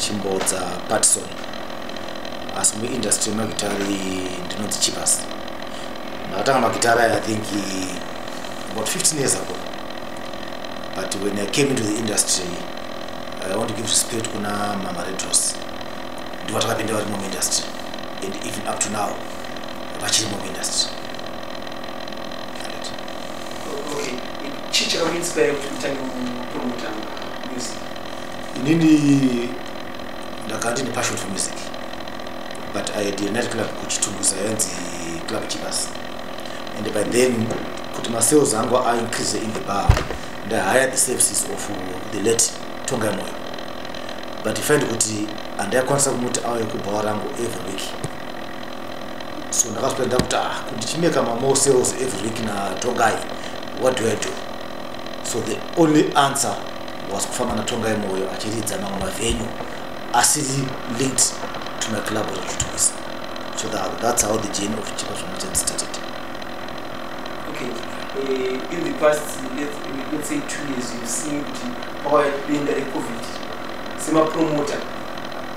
chimbodza patson asi muindustry yemagitari ndinonzi chipas ndakatanga magitari aya think about 15 years ago but when i came into the industry i want to give respect kuna mama retros ndivo takapinda varimo muindustry and even up to now vachirimo muindustry inini ndakati nepassion for music but i had another club kuchitunguza yanzi club chivas and by then kuti masales angu aincrease in the bar ndahire the services of the late tonga moyo but find kuti handaikwanisa kumuti auye kubhawa rangu every week so ndakazvipedza kuti ah kuti chimeka mamore sales every week natongai what do i do so the only answer was kufamba natongai moyo achiridza mamwe mavenyu asiri linked to my club rekutuisa so that, that's how the journey of chipa zvamachand started okay. uh, in the past let's, let's say two years you've seen kuti pawa denda recovid semapromoter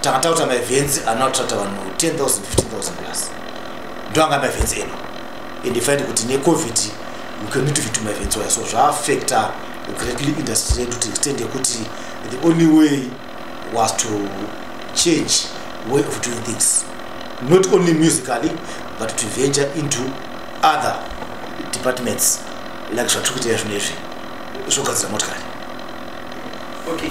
takatakuta maevhenzi anoatrata vanhu 10 000 15 plus ndo anga maevhenzi eno and ifaindi kuti necovid we can need to fit maevhenzi waya so zvaafecta greatly industry redu to extend yekuti the only way was to change way of doing things not only musically but to venture into other departments like zvatiri kuita izvino izvi zvogadzira motikari okay.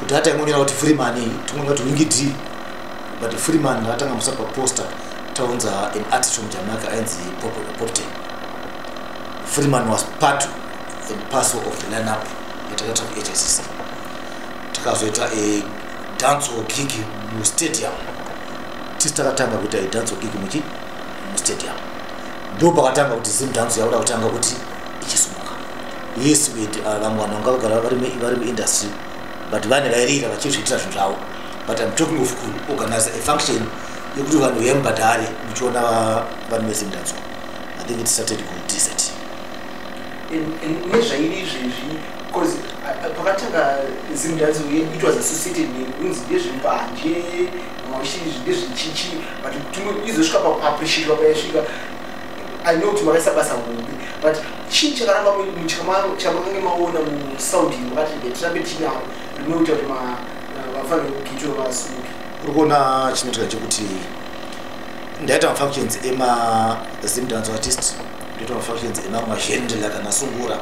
kuti hata imonyora kuti freeman timonyora kuti wingi d but freeman atanga musa paposta taunza an artist from jamaica ainzi popte freeman was part and parcel of the lineup yatakaita kuhsc takazoita a dance or gig mustadium tisi takatanga kuita idance or gig muchi mustadium ndo pakatanga kuti zim dance yauda kutanga kuti yes wait uh, vamwe vanhu vanga vagara vari muindustry but vane vairira vachizviitira zvinhu zvavo but im talking of kuorganize a function yekuti vanhu uya mubhadhare muchiona vanhu vese mudanzwa i think it started kudesert nezvairi izvezvi bcause uh, uh, pakatanga zimdanzi uye it was associated nekunzi ndezvembanje mashi ndezvechichi but kuti izosvika pakuappreciatwa payasvika i know kuti makaisa basa hombe but chii chakaramba chamange maona musound iyi makati tirambe tichidaro rinoita kuti vafane kugito vasuke uri kuona chinoitika chekuti ndaita mafunctions emazim dance artist ndoita mafunctions emamwe mazhendela kana sungura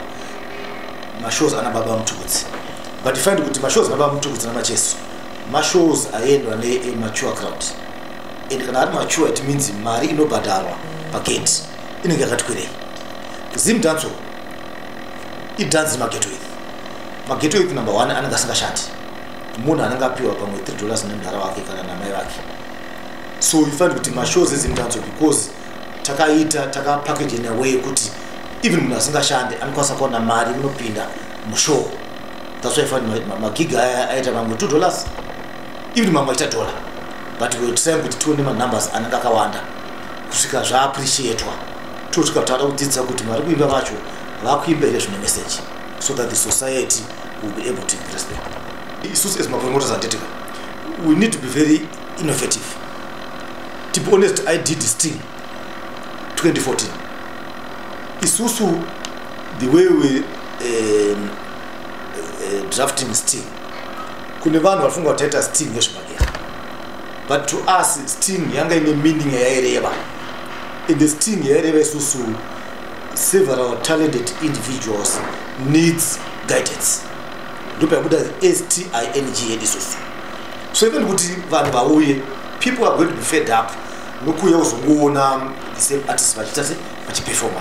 mashows ana baba mutubudzi but find kuti mashows ana baba mutubudzi namacheso mashows aendwa nemature crowd and kana ari mature it means mari inobhadharwa pagate inenge yakati kwerei zim danso idanzi mageto iri mageto iri number one anenge asingashandi munhu anenge apiwa pamwe three dollars nemudhara wake kana namai vake so ifanira kuti mashows ezim danso because takaita takapackage in a way yekuti even munhu asingashande anokwanisa kuona mari inopinda mushow that's why fani magiga aya aita mamwe two dollars even mamwe aita dollar but we were trying kuti tione manumbers anenge akawanda kusvika zvaappreciatwa tosvika taada kudzidza kuti vari kuimba vacho vakuimba here zvine message so that the society will be able to impress them isusu as mapromoters anditika we need to be very innovative to be honest i did this thing 2014 isusu the way we um, uh, drafting sting kune vanhu vafunga kuti taita sting yezvimagera but to us sting yanga ine meaning yaireva and the sting yaireva isusu several talented individuals needs guidance ndipo yabuda sting yedu isusu so even kuti vanhu vauye people are going to be fed up nokuuya kuzongoona the same artist vachiita se vachiperforma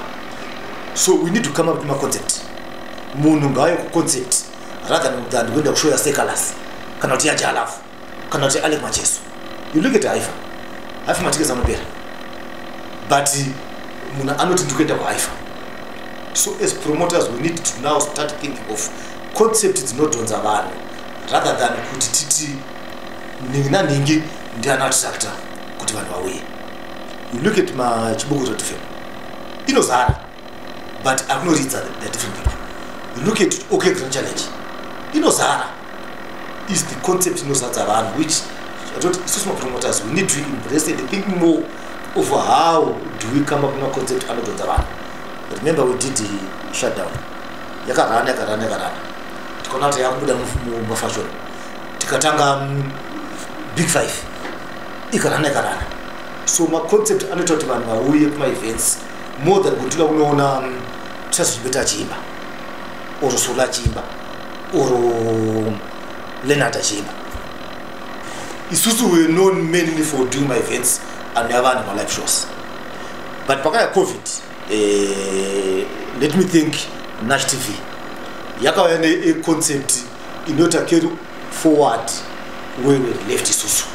so we need to come up nemaconcept munhu ngaayo kuconcept rather than kuenda kushoya secalas kana kuti yajalafu kana kuti ane macheso you look at haifa haifa matikezi anopera but munhu anoti ndikuenda kuhaifa so as promoters we need to now start thinking of concept dzinodhonza vanhu rather than kuti titi nhingi nanhingi ndiana attractor kuti vanhu vauye you look at machibukuto tfm inozara but akunoridza the different people you look at okay grand challenge inozara is the concept inozadza vanhu which atoti isusu mapromoters we need to embrace and think more of how do we come up nemaconcept anodhodza vanhu remember we did the shutdown yakarana yakarana yakarana tikaona kuti yakubuda mumafashion tikatanga mm, big five ikarana ikarana so maconcept anoita kuti vanhu vauye kumaevents more than kuti unoona um, sasibeta achiimba or sula achiimba or um, lenard achiimba isusu were known mainly for doing my events and never any live shows but pakaya covid eh, let me think nash tv yakauya neconcept inota carry forward where we left isusu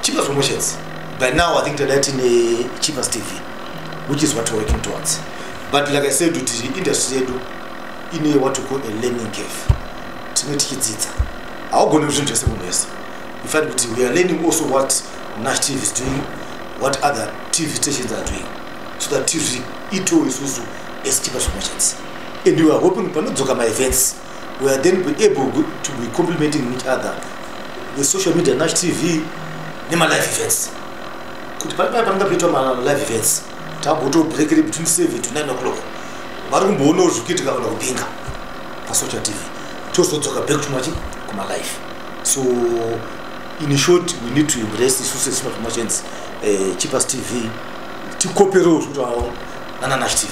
cheaper promotions by now i think tadai tine cheaper tv which is what we're working towards but like i said kuti industry yedu ine what we call a learning cave tine tichidzidza haugone zvinhu zvese munhu wese in fact kuti we are learning also what nash tv is doing what other tv stations are doing so that tv itowe isusu as cheaper promotions and we are hoping panodzoka maevents we are then be able to be complementing each other with social media nash tv nemalive events kuti paa panenge paitwa malive events takuto breakere between seven to nine o'clock vari kumboonawo zviri kuitika kana kupinga pasocial tv tozodzoka back tumachi kumalive so in short we need to embrace isu sesmart machants uh, eh, cheapers tv tikoperewo zvikuti awo nananash tv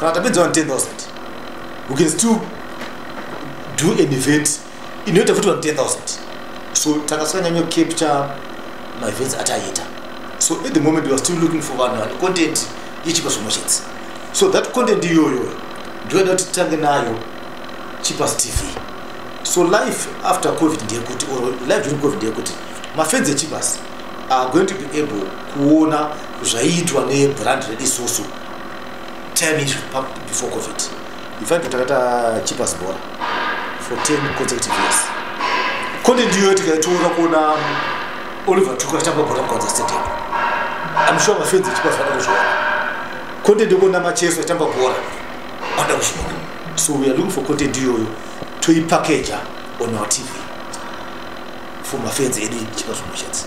kana tapedza vanhu 10000 we can still do an event inoita futi vanhu 10000 so takasanyanya capture maevents ataiita so at the moment weare still looking for vanhu vane content yechipa zvimwe chete so that content iyoyo ndoida kuti titange nayo chipas tv so life after covid ndeyekuti or life during covid ndeyekuti mafenzi echipas are going to be able kuona zvaiitwa nebrand redu isusu 10 years before covid in fact takata cheapers bora for 10 consecutive years kone ndiyo tikaitoona kuona oliver tuka achitamba bora mukwanza stadium i'm sure mafenzi echeapers vada kuzviona kone ndikuona macheso achitamba bora vada kuzviona so we are looking for content iyoyo toipakeja on our tv for mafenzi edu echeapers promotions